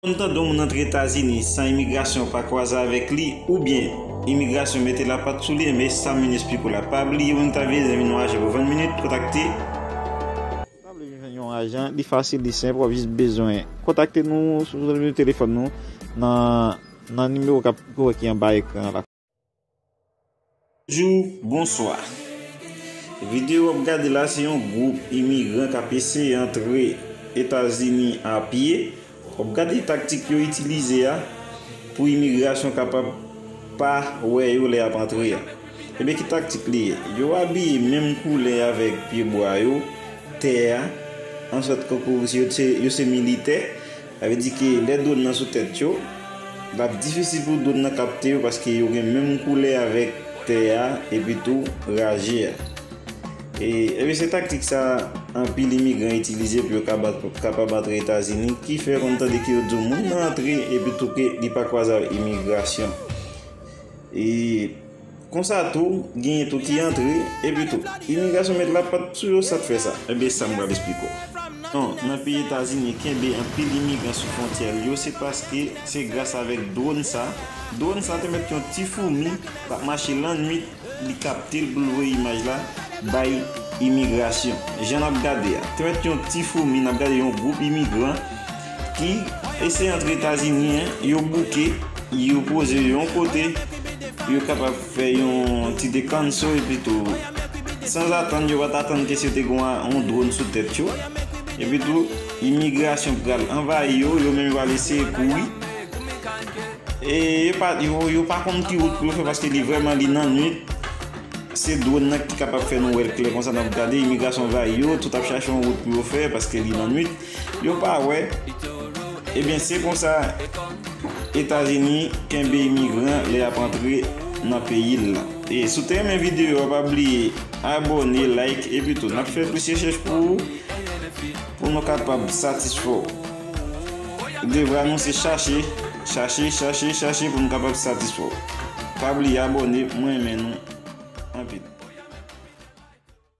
Konn tande yon moun antre etazini san imigrasyon pa kwaze avèk li oubyen imigrasyon mete lapat sou li enben sa mun espliko la pa bliye ou entavye zanmi nou ajan pou 20 minit kontakte. Ou ta vle vin jwenn yon ajan li fasil li senp wap jis bezwen kontakte nou sou nimewo telefòn nou nan nan nimewo kap ki anba ekran an la. Bonjou, bonswa. Videyo wap gade la se yon gwoup imigran kap eseye antre Etazini a pye. Wap gade taktik yo itilize a pou imigrasyon kapab pa wè yo lè yap antre a. Ebyen ki taktik li ye? Yo abiye menm koulè avèk pye bwa yo, tè a, ansòt tankou yo se militè. Sa vle di ke lè dwòn nan sou tèt yo, l ap difisil pou dwòn nan kapte yo paske yo gen menm koulè avèk tè a epi tou raje a. E ebyen se taktik sa anpil imigran itilize pou yo kapab antre Etazini ki fè konn tande ke yo di w moun nan antre epi tou ke li pa kwaze ak imigrasyon. E. Konsa tou, genyen tou ki antre, epi tou, imigrasyon met la pat sou yo sak fè sa. Enben sam pral esplike w. 1, Nan peyi Etazini kenbe anpil imigran sou fwontyè l yo se paske se gras avèk dwòn sa, dwòn sa te mèt yon ti foumi kap mache lannwit li kapte l pou l voye imaj la bay imigrasyon. Jan nap gade a, te mèt yon ti foumi nap gade yon gwoup imigran, ki eseye antre Etazini an, yo bouke, yo poze yo yon kote, yo kapab fè yon ti dekanso epitou sanzatann yo pa t atann ke si yo te gen yon dron sou tèt yo, epitou imigrasyon pral anvayi yo, yo menm yo pral eseye kouri e yo pa konn ki wout pou yo fè paske li vrèman li nan nwit, se dron nan ki kapab fè nou wè l klè konsa n ap gade imigrasyon anvayi yo, tout ap chache yon wout pou yo fè paske li nan nwit. Yo pa wè, ebyen se konsa Etazini kenbe imigran lè yap antre nan peyil lan. E si w te renmen video a pa bliye abone, like epi tou nap fè plis rechèch pou ou pou nou kapab satisfè w. Devwa nou se chache, chache, chache, chache pou nou kapab satisfè w. Pa bliye abone, mwen renmen nou anpil.